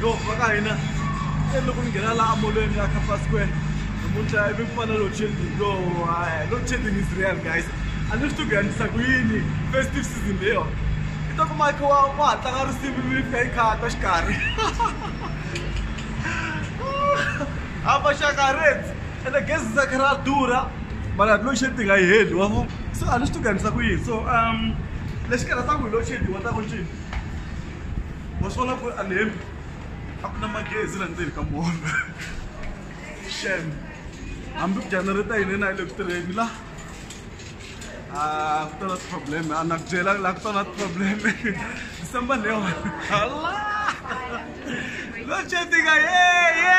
yo va ka hina se loko ni nghena laha amolweni ya kapa square namuntlha ivi ku fana load shedding yo load shedding is real guys a ni swi to ku yandisa ku yini festive season leyo i ta kuma kha wa wa ha tlanga risimu ivi ni fika yi khata xikarhi a maxaka reds ene gezi za kha ra durha mara load shedding a yi heli wa so a ni swi to ku yandisa ku yini so um lexi karhataka hi load shedding wa ta ku ncini wa swi vona ku ri a ni hembi a ku na magezi la ndzeni ka mona xem hambi ku janareta yini na yi le ku tirheni la a ku ta na problem a na ku byela la ku ta na problem december ni yona hala lo chetika ye ye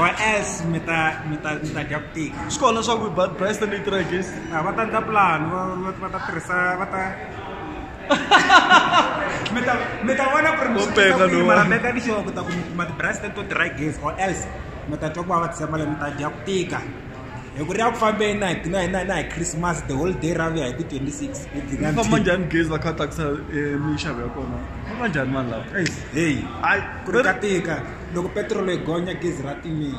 or else mi ta mi ta mi ta dya ku tika swi kona swa ku bad price ta neutral gas a va ta ndla plan va ta tirhisa va ta mi ta mi ta vona ku ri mi swi kota ku mara make ni sure ku ta ku mi kuma ti-price teto dry gas or else mi ta twa ku va va tshemba le mi ta dya ku tika hi ku ri ya ku fambeni na hi na hi na na hi christmas the whole day ra vuya hi ti-twenty six famba njhani gezi va kha tsakisa eh, minxavo ya kona famba njhani mani lawa heyi ku ri ka tika loko petirolo yi gonya gezi ra timile.